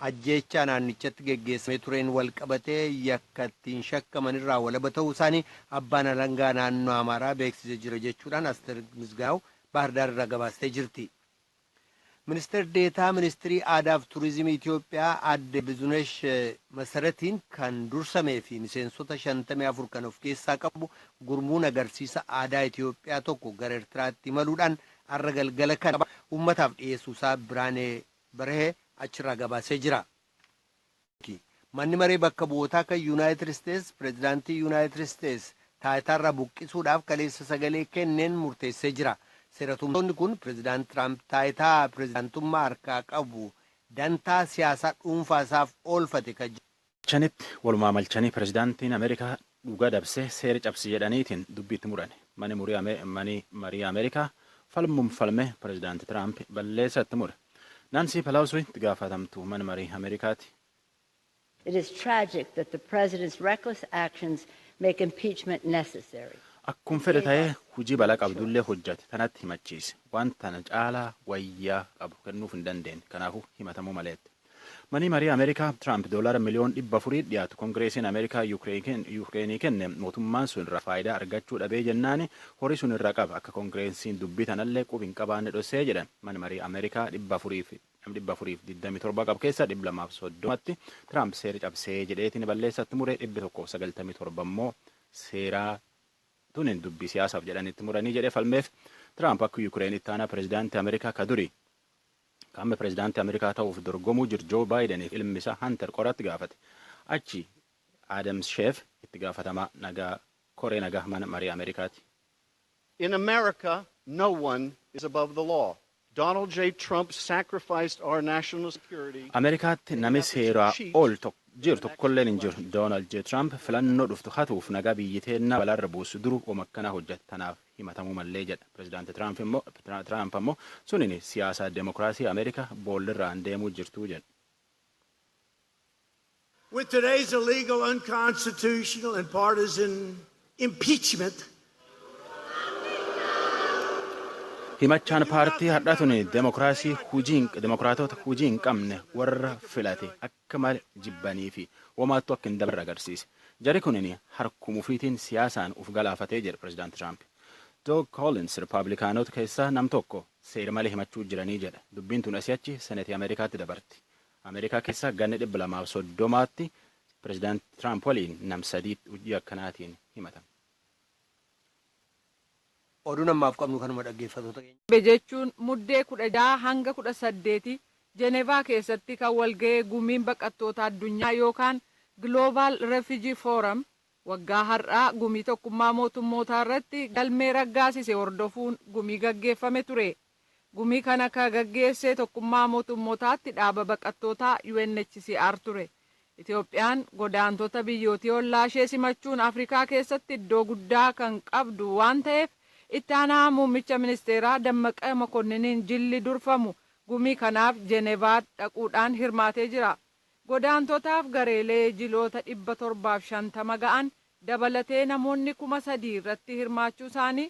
Ajjeechaa naannichatti geggeessamee tureen walqabatee yakka ittiin shakkaman irraa walaba ta'uu isaanii abbaan alangaa naannoo Amaaraa beeksise jira jechuudhaan Asteer Misgaanaaw Baahirdaar irraa gabaastee jirti. Ministeer Deetaa Ministirii Aadaaf Turizimii Itiyoophiyaa Aadde Bizunesh Masaratiin kan dursamee fi miseensota 54 kan of keessaa qabu gurmuun agarsiisa aadaa Itiyoophiyaa tokko gara Ertiraatti imaluudhaan har'a galgala kana ummataaf dhiyeessuusaa Biraanee Berhee achirraa gabaasee jira. Manni Maree Bakka Bu'ootaa kan Yunaayitid Isteets Pireezidaantii Yunaayitid Isteets taayitaarraa buqqisuudhaaf kaleessa sagalee kenneen murteessee jira. Seeratumtoonni kun Pireezidaant Tiraamp taayitaa pireezidaantummaa harkaa qabu dantaa siyaasaa dhuunfaa isaaf oolfate kan jedhu Chanitti walumaa malchanii pirezidaantiin Amerikaa dhuga dabse seera cabse jedhaniitiin dubbi itti murani. Mani mani marii Amerikaa falmum falme pirezidaanti Tiraamp balleessa itti mure. Naansii Pelausui itti gaafatamtu man marii Amerikaati. It is tragic that the president's reckless actions make impeachment necessary. Akkum fedhe taye hujii bala qabdullee hojjate tanatti himachiise. Waan tana caalaa wayyaa qabu kennuuf hin dandeenne. Kanaafu himatamuu maleette. Manii marii Amerikaa Tiraamp doolaara miliyoon 400 dhiyaatu Kongireesiin Amerikaa Yuukreenii kenne mootummaan sun irraa faayidaa argachuu dhabee jennaan horii sun irraa qaba akka Kongireesiin dubbii tanallee qub hin qabaanne dhossee jedhan man marii Amerikaa 427 qabu keessa 230tti Tiraamp seera cabsee jedheetiin balleessatti muree 197 immoo seeraa tunin dubbii siyaasaaf jedhanitti muranii jedhee falmeef Tiraamp akka Yuukreen ittaanaa pirezidaantii Amerikaa ka durii Ka amma pirezidaantii Ameerikaa ta'uuf dorgomuu jiru Joo Baayidaniif ilmi isaa Hantar qoraatti gaafate. Achi Adams Sheef itti gaafatamaa nagaa koree nagaa mana marii Ameerikaati. In America, no one is above the law. Donald J. Trump sacrificed our national security. Ameerikaatti nami seeraa ol jiru tokkolleen hin jiru. Donald J. Trump filannoo dhuftu hatuuf nagaa biyyi teennaa balaarra buusu duruu woma akkanaa hojjata. Tanaaf himatamuu mallee jedha. Pirezidaanti Tiraamp ammoo sunin siyaasa demokraasii Ameerika boollirraan deemuu jirtuu jedha. With today's illegal, unconstitutional and partisan impeachment, Himachaan paartii hardhaa tun demokraasii hujii demokraatoota hujii hin qabne warra filate akka akka male jibbanii fi womaattuu akka hin dabarre agarsiise. Jari kunin harkuma ufiitiin siyaasaan uf galaafate jedhe Pirezidaant Tiraamp. Doug Collins Ripaablikaanota keessaa nam tokko seer malee himachuu jiranii jedhe. Dubbiin tun asii achi Senetii Ameerikaatti dabarti. Ameerikaa keessa ganna 230tti Pirezidaant Tiraamp waliin nam sadiitti hujii akkanaatiin himatame. Oduun ammaaf qabnu kanuma dhaggeeffatoota keenya. Darbe jechuun Muddee 16 hanga 18 Jenevaa keessatti kan walga'e Gumiin Baqattoota Addunyaa yookaan Global Refugee Forum waggaa har'aa Gumii Tokkummaa Mootummootaa irratti galmee raggaasise hordofuun gumii gaggeeffame ture. Gumii kana ka gaggeesse Tokkummaa Mootummotaatti dhaaba baqattootaa UNHCR ture. Itoophiyaan godaantota biyyootii ollaa ishee simachuun Afrikaa keessatti iddoo guddaa kan qabdu waan ta'eef Itti aanaa Muummicha Ministeeraa Dammaqa Makonniniin jilli durfamu gumii kanaaf Jenevaa dhaquudhaan hirmaatee jira. Godaantotaaf gareelee jiloota 750 ga'an dabalatee namoonni 3,000 irratti hirmaachuu isaanii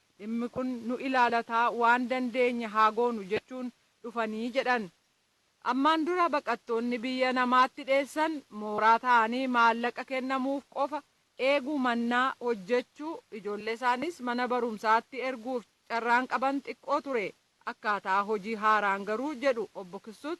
Dhimmi kun nu ilaalata waan dandeenye haa goonu jechuun dhufanii jedhan. Ammaan dura baqattoonni biyya namaatti dheessan mooraa taa'anii maallaqa kennamuuf qofa eeguu mannaa hojjechuu, ijoolleesaaniis mana barumsaatti erguuf carraan qaban xiqqoo ture. Akkaataa hojii haaraan garuu jedhu Obbo Kisuut,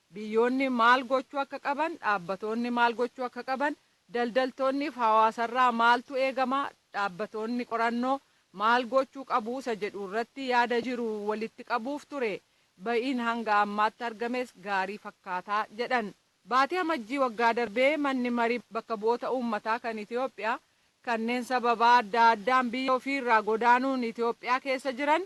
Biyyoonni maal gochuu akka qaban, dhaabbatoonni maal gochuu akka qaban, daldaltoonniif hawaasarraa maaltu eegama, dhaabbatoonni qorannoo maal gochuu qabu isa jedhu irratti yaada jiru walitti qabuuf ture. Ba'iin hanga ammaatti argames gaarii fakkaata jedhan. Baatii Amajjii waggaa darbee Manni Mari Bakka Bu'oota Uummataa kan Itoophiyaa kanneen sababaa addaa addaan biyya ofii irraa godaanuun Itoophiyaa keessa jiran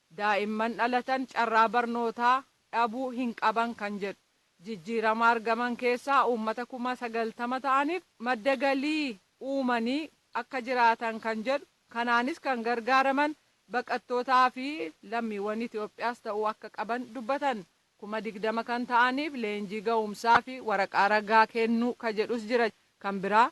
Daa'imman dhalatan carraa barnootaa dhabuu hin qaban kan jedhu jijjiirama argaman keessaa uummata kuma sagaltama ta'aniif madda galii uumanii akka jiraatan kan jedhu kanaanis kan gargaaraman baqattootaa fi lammiiwwan Itiyoophiyaas ta'uu akka qaban dubbatan. Kuma digdama kan ta'aniif leenjii ga'umsaa fi waraqaa ragaa kennuu ka jedhus jira. Kan biraa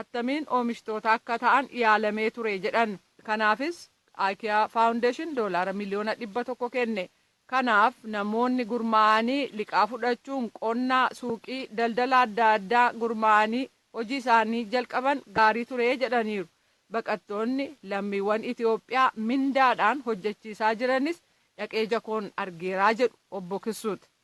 attamiin oomishtoota akka ta'an yaalamee ture jedhan. Kanaafis Ikea Foundation doolaara miliyoona dhibba tokko kenne. Kanaaf namoonni gurmaa'anii liqaa fudhachuun qonna, suuqii, daldala adda addaa gurmaa'anii hojii isaanii jalqaban gaarii ture jedhaniiru. Baqattoonni lammiiwwan Itiyoophiyaa mindaadhaan hojjechiisaa jiranis dhaqee jakoon argeera jedhu Obbo Kisuut.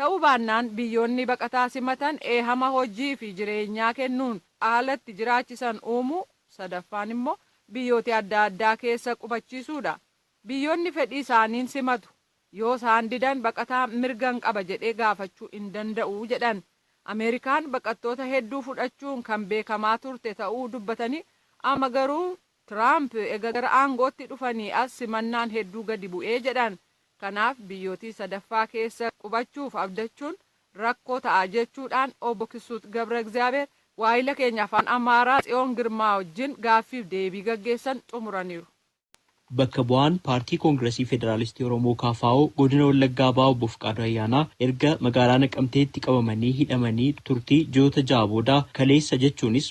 Ta'uu baannaan biyyoonni baqataa simatan eehama hojii fi jireenyaa kennuun aala itti jiraachisan uumuu, sadaffaan immoo biyyooti adda addaa keessa qubachiisuu dha. Biyyoonni fedhii isaaniin simatu. Yoo isaan didan baqataan mirgan qaba jedhee gaafachuu hin danda'u jedhan. Ameerikaan baqattoota hedduu fudhachuun kan beekamaa turte ta'uu dubbatanii amma garuu Tiraamp ega gara aangootti dhufanii as simannaan hedduu gadi bu'ee jedhan. Kanaaf biyyootii sadaffaa keessa qubachuuf abdachuun rakkoo ta'a jechuu dhaan Obbo Kisuut Gabragizaabeer waahila keenya Afaan Amaaraa Tsiyoon Girmaa wajjin gaaffiif deebii gaggeessan xumuraniiru. Bakka bu'aan Paartii Koongirasii Federaalistii Oromoo, kfo, Godina Wallaggaa Bahaa Obbo Fiqaaduu Ayyaanaa erga magaalaa Naqamteetti qabamanii hidhamanii turtii ji'oota ja'a booda kaleessa jechuunis,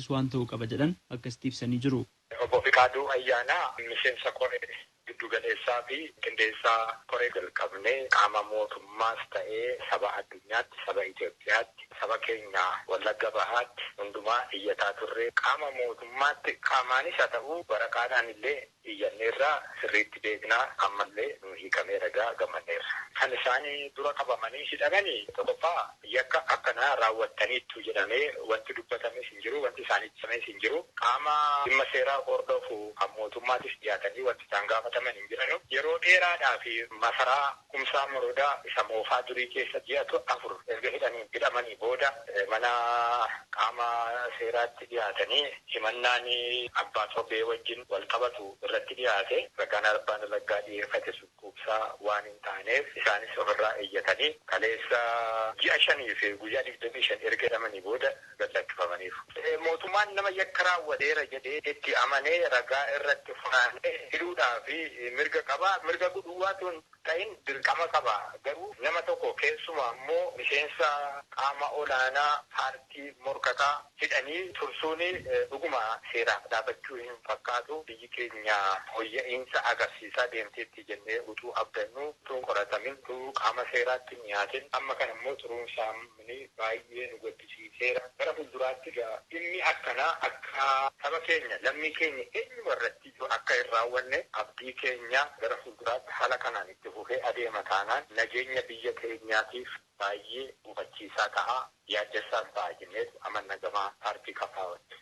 Kunis waan ta'uu qaba jedhan akkasitti ibsanii jiru. Obbo Fiqaaduu Ayyaanaa, Miseensa Koree Giddugaleessaa fi Qindeessaa Koree jalqabnee qaama mootummaas ta'ee saba addunyaatti, saba Itoophiyaatti, saba keenya Wallagga Bahaatti hundumaa iyyataa turre. Qaama mootummaatti qaamaanis haa ta'uu waraqaadhaan illee iyyanneerra, sirriitti beekna, ammallee nuu hiikameera egaa gammanneerra. Kan isaan dura qabamanii hidhamani tokkoffaa yakka akkanaa raawwattaniittu jedhamee wanti dubbatames hin jiru, wanti isaaniif ibsames hin jiru. Qaama dhimma seeraa hordofu kan mootummaatis dhiyaatanii wanti isaan gaafataman hin jiranu. Yeroo dheeraadhaaf masaraa Kumsaa Morodaa isa moofaa durii keessa ji'a afur erga hidhanii hidhamanii booda mana qaama seeraatti dhiyaatanii himannaan abbaa sobee wajjin wal qabatu irratti dhiyaate ragaan arbaan raggaa dhiyeeffate sun quubsaa waan hin taaneef isaanis ofirraa iyyatanii kaleessa ji'a shanii fi guyyaa digdamii shan erga hidhamanii booda gad lakkifamaniiru. Mootummaan nama yakka raawwateera jedhee itti amane ragaa irratti funaanee hidhuudhaaf mirga qaba. Mirga duwwaa utuu hin ta'in dirqama qaba. Garuu nama tokko keessumaa immoo miseensa qaama olaanaa paartii morkataa hidhanii tursuun dhuguma seeraaf dhaabachuu hin fakkaatu. Biyyi keenya fooyya'iinsa agarsiisaa deemteetti jennee utuu abdannuu utuu hin qoratamin, utuu qaama seeraatti hin dhiyaatin amma kana immoo turuun isaa Kuni baay'ee nu gaddisiiseera. Gara fuulduraatti egaa dhimmi akkanaa akka saba keenya, lammii keenya eenyuma irrattiyyuu akka hin raawwanne abdii keenya. Gara fuulduraatti haala kanaan itti fufee adeema taanaan nageenya biyya keenyaatiif baay'ee gufachiisaa ta'a, yaaddessaas ta'a jenneetu amanna gama paartii KFOtti.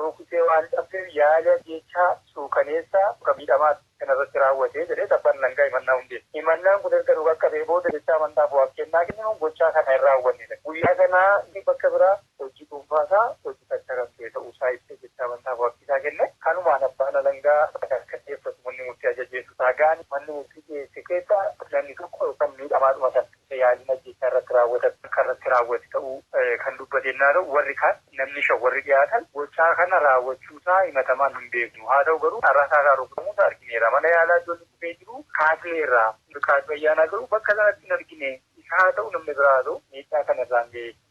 Rukutee waan qabdeef yaali ajjeechaa suukaneessaa kan miidhamaa kana irratti raawwate jedheet abbaan alangaa himannaa hundeesse. Himannaan kun erga nu qaqqabee booda jecha amantaaf waab kennaa kenninuun gochaa kana hin raawwanne jedhe. Guyyaa sana inni bakka biraa hojii dhuunfaa isaa hojjetaachaa kan ture ta'uu isaa ibsee jecha amantaaf waabbii isaa kenne. Kanumaan abbaan alangaa ragaa akka dhiyeeffatu manni murtii ajajeetu raagaan manni murtii dhiyeesse keessaa namni tokko yookaan miidhamaadhuma sana. isa yaaliin ajjeechaa irratti raawwatame akka irratti raawwate ta'uu kan dubbate ennaa ta'u, warri kaan namni shan warri dhiyaatan gochaa kana raawwachuu isaa himatamaan hin beeknu, haa ta'u garuu carraa saakaan rukutamuu isaa argineerra, mana yaalaa iddoo inni kufee jiru kaasneerra, Fiqaaduu Ayyaanaa garuu bakka sanatti hin argine, isa haa ta'u namni biraa haa ta'u miidhaa kana irraan ga'e.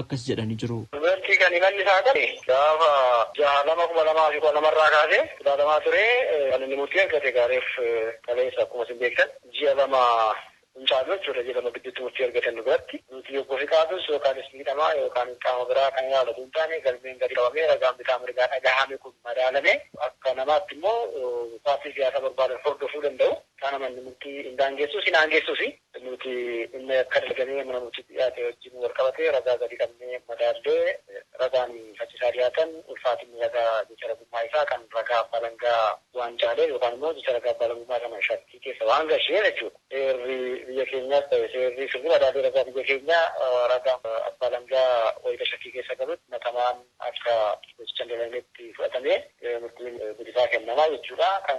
akkas jedhanii jiru. Dubartii kan himanni isaa ka'e gaafa 6/2/2012 irraa kaasee ilaalamaa ture. Kan inni murtii argate egaa reef kaleessa akkuma isin beektan ji'a lama hin caalu jechuudha. Ji'a lama gidduutti murtii argatan nu biratti. Nuti Obbo Fiqaaduus yookaanis miidhamaa yookaan qaama biraa kan ilaalu utuu hin taane galmeen gadi qabamee ragaan bitaa mirgaa dhagahame kun madaalamee akka namaatti immoo paartii siyaasaa barbaadan hordofuu danda'u. Kana manni murtii hin daangeessus hin aangeessusi. Nuti dhimma yakka dalagame mana murtiitti dhiyaate wajjin walqabatee ragaa gadi qabnee madaallee ragaan faccisaa dhiyaatan ulfaatinni ragaa jecha ragummaa isaa kan ragaa abbaa alangaa waan caaleef yookaan immoo jecha ragaa abbaa alangummaa sana shakkii keessa waan galcheef jechuudha. Seerri biyya keenyaas ta'e seerri sirni madaalii ragaa biyya keenyaa ragaan abbaa alangaa wayita shakkii keessa galutti himatamaan akka gochichan dalagnetti fudhatamee murtiin bilisaa kennama jechuudha. Kan.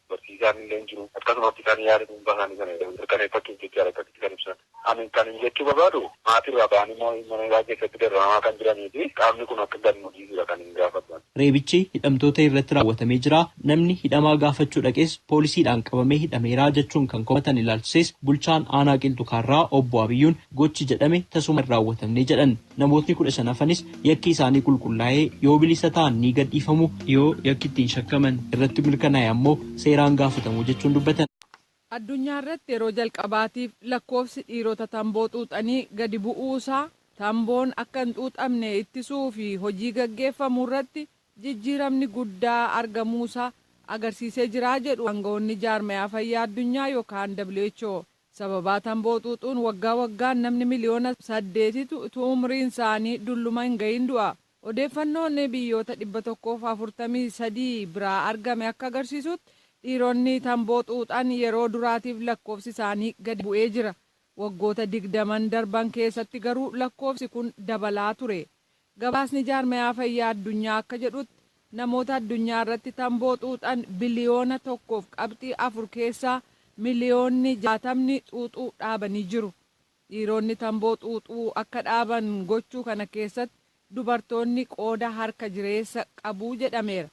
barsiisaan illee hin jiru. Akkasumatti kan yaada dhuunfaa isaanii sana mirkaneeffachuuf jecha akkasitti kan ibsan. Ani kanin jechuu barbaadu maatii irraa ba'anii immoo mana hidhaa keessatti dararamaa kan jiranii fi qaamni kun akka gad nu dhiisudha kanin gaafadhu ani. Reebichi hidhamtoota irratti raawwatamee jira, namni hidhamaa gaafachuu dhaqes poolisiidhaan qabamee hidhameera jechuun kan komatan ilaalchisees bulchaan aanaa Qilxu Kaarraa obbo Abiyyuun gochi jedhame tasuma hin raawwatamne jedhan. Namootni kudha shan hafanis Yakki isaanii qulqullaa'ee yoo bilisa ta'an ni gadhiifamu, yoo yakki ittiin shakkaman irratti mirkanaa'e ammoo seeraan gaafatamu jechuun dubbatan. Addunyaa irratti yeroo jalqabaatiif lakkoofsi dhiirota tamboo xuuxanii gadi bu'uu isaa tamboon akka hin xuuxamne ittisuu fi hojii gaggeeffamu irratti jijjiiramni guddaa argamuu isaa agarsiisee jira jedhu aanga'oonni Jaarmayaa Fayyaa Addunyaa yookaan who. Sababaa tamboo xuuxuun waggaa waggaan namni miliyoona saddeetitu utuu umriin isaanii dulluma hin gahin du'a. Odeeffannoon biyyoota 143 biraa argame akka agarsiisuutti dhiironni tamboo xuuxan yeroo duraatiif lakkoofsi isaanii gadi bu'ee jira. Waggoota digdaman darban keessatti garuu lakkoofsi kun dabalaa ture. Gabaasni Jaarmayaa Fayyaa Addunyaa akka jedhutti, namoota addunyaa irratti tamboo xuuxan biliyoona 1 fi qabxii 4 keessaa miliyoonni 60'ni xuuxuu dhaabanii jiru. Dhiironni tamboo xuuxuu akka dhaaban gochuu kana keessatti dubartoonni qooda harka jireessa qabu jedhameera.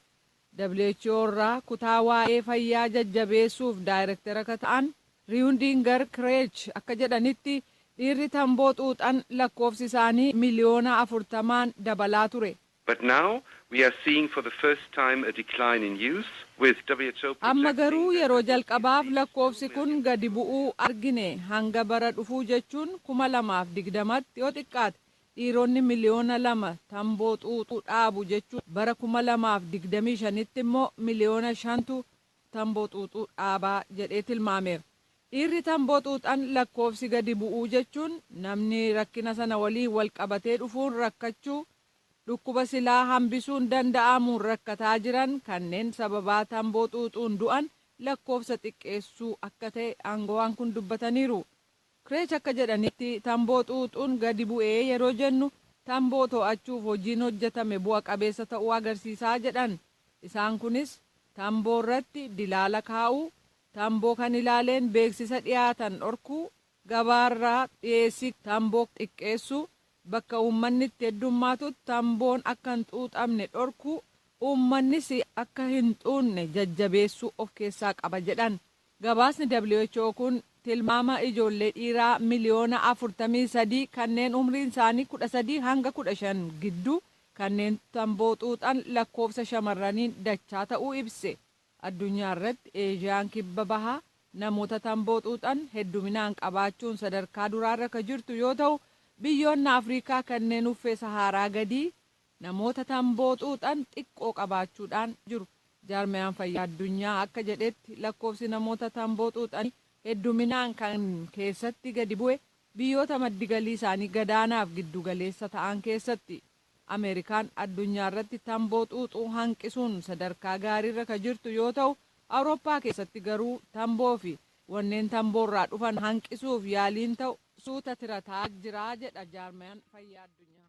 who irraa kutaa waa'ee fayyaa jajjabeessuuf daayrektera ka ta'an Riundinger Kreech akka jedhanitti, dhiirri tamboo xuuxan lakkoofsi isaanii miliyoona 40n dabalaa ture. But now we are seeing for the first time a decline in youth, with who projecting Amma garuu that yeroo there will be at jalqabaaf least lakkoofsi two kun million gadi people bu'uu argine, hanga bara dhufuu jechuun 2020tti yoo xiqqaate Dhiironni miliyoona lama tamboo xuuxuu dhaabu jechuun bara kuma lamaa fi digdamii shanitti immoo miliyoona shantu tamboo xuuxuu dhaaba jedhee tilmaameera. Dhiirri tamboo xuuxan lakkoofsi gadi bu'uu jechuun namni rakkina sana waliin walqabatee dhufuun rakkachuu, dhukkuba silaa hambisuun danda'amuun rakkataa jiran kanneen sababaa tamboo xuuxuun du'an lakkoofsa xiqqeessuu akka ta'e aangawaan kun dubbataniiru. Kreech akka jedhanitti, tamboo xuuxuun gadi bu'e yeroo jennu tamboo to'achuuf hojiin hojjetame bu'a qabeessa ta'uu agarsiisa jedhan. Isaan kunis tamboo irratti dilaala kaa'uu, tamboo kan ilaaleen beeksisa dhiyaatan dhorkuu, gabaa irraa dhiyeessii tamboo xiqqeessuu, bakka uummanni itti heddummaatutti tamboon akka hin xuuxamne dhorkuu, uummannis akka hin xuunne jajjabeessuu of keessaa qaba jedhan. Gabaasni who kun tilmaama ijoollee dhiiraa miliyoona 43 kanneen umriin isaanii 13 hanga 15 gidduu kanneen tamboo xuuxan lakkoofsa shamarraniin dachaa ta'uu ibse. Addunyaa irratti Eeshiyaan Kibba Bahaa namoota tamboo xuuxan hedduminaan qabaachuun sadarkaa duraarra ka jirtu yoo ta'u, biyyoonni Afriikaa kanneen uffee Sahaaraa gadii Namoota tamboo xuuxan xiqqoo qabaachuudhaan jiru. Jaarmayaan Fayyaa Addunyaa akka jedhetti lakkoofsi namoota tamboo xuuxanii hedduminaan kan keessatti gadi bu'e biyyoota maddi galii isaanii gadaanaaf giddu galeessa ta'an keessatti. Ameerikaan addunyaarratti tamboo xuuxuu hanqisuun sadarkaa gaariirra ka jirtu yoo ta'u, Awurooppaa keessatti garuu tamboofi wanneen tamboorraa dhufan hanqisuuf yaaliin ta'u suuta tirataa jira jedha Jaarmayaan Fayyaa Addunyaa.